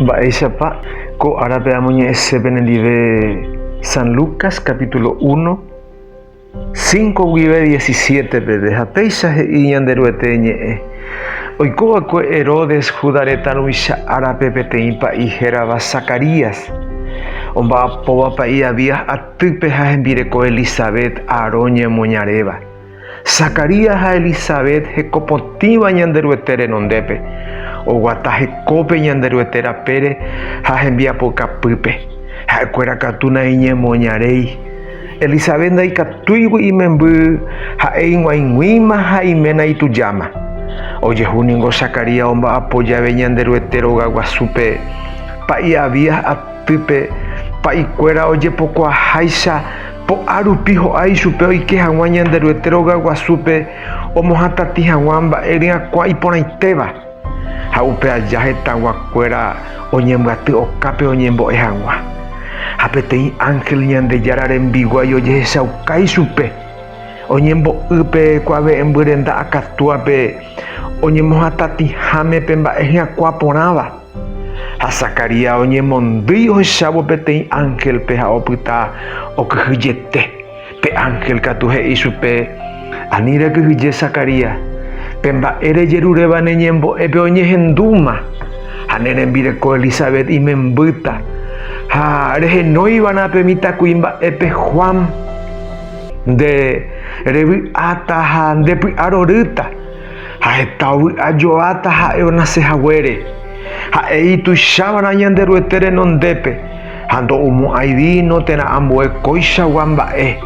Mba'éichapa ko árape amoñe'ẽse penendive San Lucas capítulo 1, 5 guive 17 peve, ha péicha he'i Ñanderuete ñe'ẽ, Oiko va'ekue Herodes Juda retã ruvicha árape peteĩ pa'i hérava Zacarías, omba'apóva pa'i Abías atýpe ha hembireko Elisabet, Aarón ñemoñaréva. Zacarías ha Elisabet hekopotĩva Ñanderuete renondépe, oguata hekópe Ñanderuete rapére ha hembiapokapýpe, ha'ekuéra katu naiñemoñaréi. Elisabet ndaikatúigui imemby, ha'e ig̃uaig̃uĩma ha iména itujáma. Ojehu ningo Zacarías omba'apo jave Ñanderuete rogaguasúpe, pa'i Abías atýpe, pa'ikuéra ojepokuaaháicha Ko'ã rupi ho'a ichupe oike hag̃ua Ñanderuete róga guasúpe omohatati hag̃ua mba'e ryakuã iporãitéva, ha upe aja hetãgua kuéra oñembyaty okápe oñembo'e hag̃ua. Ha peteĩ ángel Ñandejára rembiguái ojehechauka ichupe, oñembo'y pe kuave'ẽmby renda akatúape oñemohatatiháme pe mba'e hyakuã porãva. Ha Zacarías oñemondýi ohechávo peteĩ ángelpe ha opyta okyhyjete. Pe ángel katu he'i chupe, Ani rekyhyje Zacarías, pe mba'e rejeruréva ne ñembo'épe oñehendúma, ha ne rembireko Elisabet imembýta, ha rehenóiva'erã pe mitãkuimba'épe Juan. Nde revy'áta ha ndepy'arorýta. Ha heta vy'a joáta ha'e onase haguére. Ha'e ituichávana Ñanderuete renondépe, ha ndo'omo'ãi víno térã ambue kóichagua mba'e,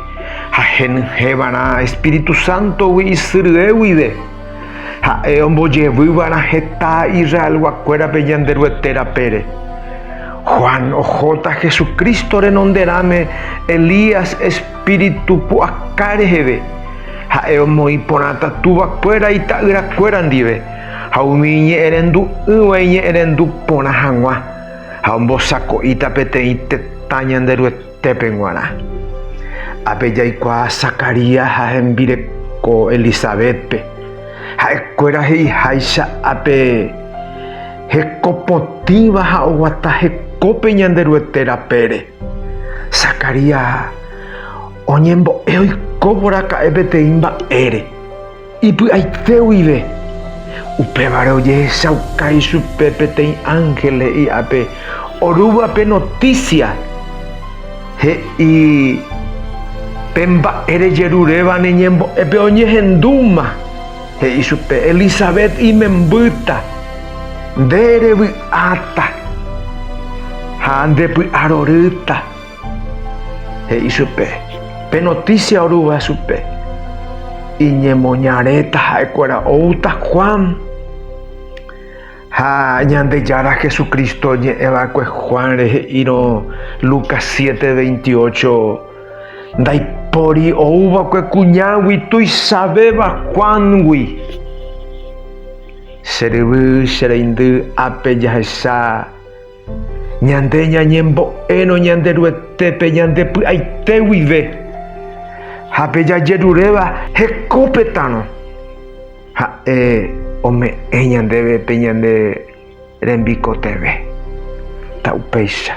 ha henyhẽva'erã Espíritu Sántogui isyry'e guive. Ha'e ombojevyva'erã heta Israelguakuérape Ñanderuete rapére. Juan ohóta Jesucristo renonderãme Elías, Espíritu pu'aka reheve, ha'e omoĩ porãta túva kuéra ita'ýra kuéra ndive, ha umi iñe'ẽrendu'ỹva iñe'ẽrendu porã hag̃ua, ha ombosako'íta peteĩ tetã Ñanderuetépe g̃uarã. Ápe jaikuaa Zacarías ha hembireko Elisabétpe, ha'e kuéra he'iháicha ápe hekopotĩva ha oguata hekópe Ñanderuete rapére. Zacarías ha oñembo'e oiko mboraka'e peteĩ mba'ére, ipy'aite guive. Upévare ojehechauka ichupe peteĩ ánhel he'i ápe orúva pe notísia, he'i, Pe mba'e rejeruréva ne ñembo'épe oñehendúma. He'i chupe Elisabet imembýta, Nde revy'áta ha ndepy'arorýta. He'i chupe pe notísia orúva chupe, Iñemoñaréta ha'ekuéra oúta Juan ha Ñandejára Jesucristo oñe'ẽ va'ekue Juánre he'írõ Lucas siete veintiocho. Ndaipóri ouva'ekue kuñágui tuichavéva Juángui. Che ryvy, che reindy, ápe jahecha ñande ñañembo'érõ Ñanderuetépe ñande py'aite guive, ha pe jajeruréva hekópetãrõ, Ha'e ome'ẽ ñandéve pe ñande Rembikotevẽ. Ta'upéicha.